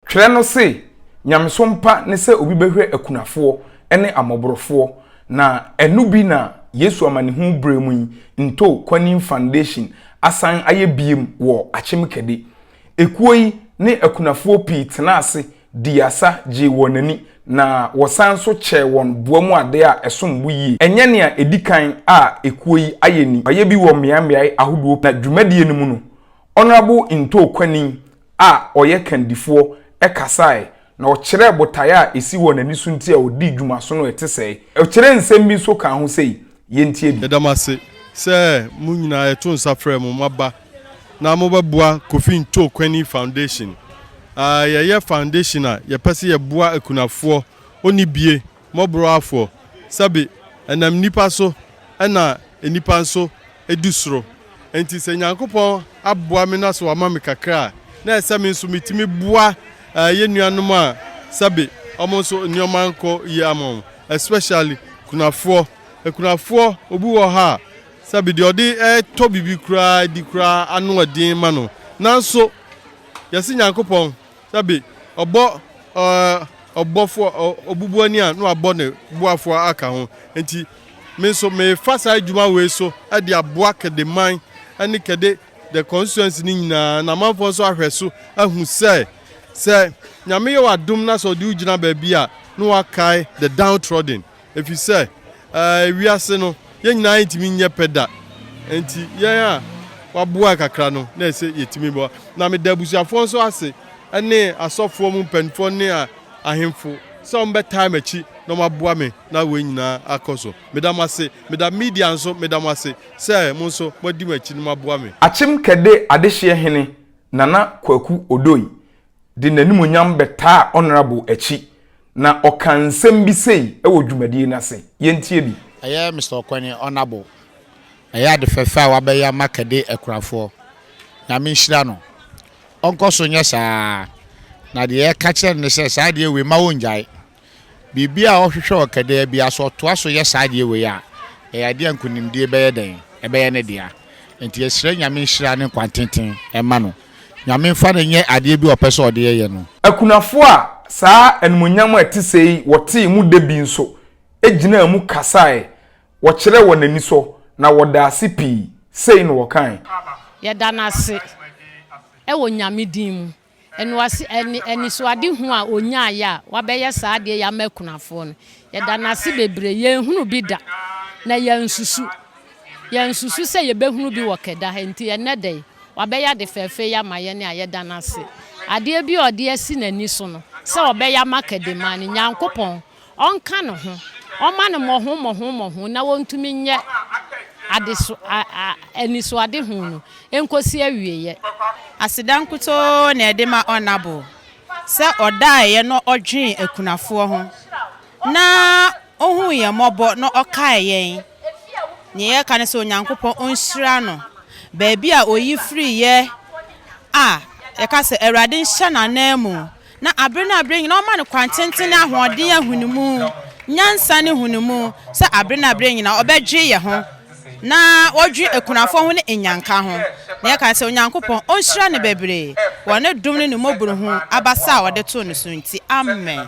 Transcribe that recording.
Twerɛ no se, Nyamesom pa ne sɛ obi bɛhwɛ akunafoɔ ne amɔborofoɔ, na ɛno bi na Yesu Amanehunu berɛ mu yi Nto Kwanin Foundation asan ayɛ biem wɔ Akyem Kɛde. Ekuo yi ne akunafoɔ pii tenaa ase dii asa gyee wɔn ani na wɔsan nso kyɛɛ wɔn boa mu adeɛ a ɛsom bo yie. Ɛnyɛ nea ɛdi kan a ekuo yi ayɛ ni, wɔayɛ bi wɔ mmeaemmeae ahodoɔ pii na dwumadie no mu no Honourable Nto Kwanin a ɔyɛ kandifoɔ kasaeɛ, na ɔkyerɛɛ botaeɛ a ɛsi hɔ na ɛno so nti a ɔdii dwumasono a ɛte sɛɛ. Ɔkyerɛɛ nsɛm bi nso kaa ho sei, yɛntie bi. Yɛda mo ase sɛ mo nyinaa yɛto nsa frɛ mo moaba na mobɛboa Kofi Nto Kwani Foundation. Yɛyɛ foundation a yɛpɛ sɛ yɛboa akunafoɔ, ɔnnibie, mmɔborɔwafoɔ, sɛbe ɛnam nnipa so na nnipa nso du soro. Enti sɛ Nyankopɔn aboa me na sɛ wama me kakra a, na ɛsɛ sɛ me nso metumi boa yɛn nuanom a sɛbe wɔn nso nneɛma nkɔ yie ama wɔn, especially akunafoɔ. Akunafoɔ, obi wɔ hɔ a, sɛbe deɛ ɔde tɔ biribi koraa di koraa ano yɛ den ma no. Nanso, yɛse Nyankopɔn Sɛbe ɔbɔ ɔbɔfo obubuani a, na wabɔ ne boafo aka ho. Enti, me nso merefa saa adwuma wei so de aboa Kedeman ne Kede the constituency no nyinaa, na amanfoɔ nso ahwɛ so ahu sɛ, sɛ Nyame yɛ w'adom na sɛ ɔde wo gyina baabi a, na wakae the downtrodden. Efisɛ ɛɛ, wiase no, yɛn nyinaa rentumi nyɛ pɛ da. Enti yɛn a wɔaboa kakra no, na ɛsɛ yetumi boa. Na meda abusuafoɔ nso ase, ne asɔfoɔ mu mpanimfoɔ ne ahemfo sɛ wɔbɛtaa m'akyi na wɔaboa me na wei nyinaa akɔ so. Meda mo ase. Meda media nso, meda mo ase sɛ mo nso moadi m'akyi na moaboa me. Akyem Kɛde Adehyeɛ Hene Nana Kwaku Odoi de n'animuonyam bɛtaa Honourable akyi na ɔkaa nsɛm bi sei wɔ dwumadie no ase. Yɛntie bi. Ɛyɛ Mister Ɔkwɛne, Honourable. Ɛyɛ ade fɛfɛ a wabɛyɛ ama Kɛde akurafoɔ. Nyame nhyira no. Ɔnkɔ so nyɛ saa ara. Na deɛ yɛka kyerɛ no ne sɛ saa adeɛ wei mma ɔngyae. Biribiara a ɔhwehwɛ wɔ Kɛdɛɛ biara, sɛ ɔtoa so yɛ saa adeɛ wei a, ɛyɛ adeɛ a nkonimdie bɛyɛ dɛn? Ɛbɛyɛ ne dea. Enti yɛsrɛ Nyame nhyira ne nkwantenten mma no. Nyame mfa no nyɛ adeɛ bi a ɔpɛ sɛ ɔde yɛ no. Akunafoɔ a saa animuonyam a ɛte sɛɛ yi wɔtee mu da bi nso gyinaa mu kasaeɛ, wɔkyerɛɛ wɔn anisɔ, na wɔdaa ase pii. Sei na wɔkae. Yɛda no ase wɔ Nyame din mu. Ɛnoase ɛne anisoadehu a ɔnyaaeɛ a wabɛyɛ saa adeɛ yi ama akunafoɔ no, yɛda no ase bebree. Yɛnhunu bi da, na yɛansusu. Yɛansusu sɛ yɛbɛhunu bi wɔ Keda ha. Enti ɛnnɛ da yi, wabɛyɛ ade fɛɛfɛ yi ama yɛn a yɛda no ase. Adeɛ bi a ɔde asi n'ani so no, sɛ ɔbɛyɛ ama Kedeman no, Nyankopɔn, Ɔnka ne ho, ɔmma no mmɔho mmɔho mmɔho na ɔntumi nyɛ adeso a a anisoadehu no nkɔsi awieɛ. Aseda nkutoo na ɛde ma Ɔnnaboo sɛ ɔdaeɛ na ɔdwenee akunafoɔ ho na ɔhuu yɛn mmɔbɔ na ɔkaee yɛn. Deɛ yɛka ne sɛ Onyankopɔn ɔnhyira no baabi a ɔyi firiiɛ a yɛka sɛ Awurade nhyɛ n'ananmu Na aber na aber nyina ɔma no kwan tsentsen ne ahoɔdzen ahunmu, nyansa ne nhunumu, sɛ aber na aber nyina ɔbɛdwe hɛnho, na ɔdwe ekunafo ho ne enyanka ho, na yɛka dɛ Onyankopɔn onhyira no beberee wɔ no dom ne no mbɔborhu abasa a ɔde too no so ntsi. Amen.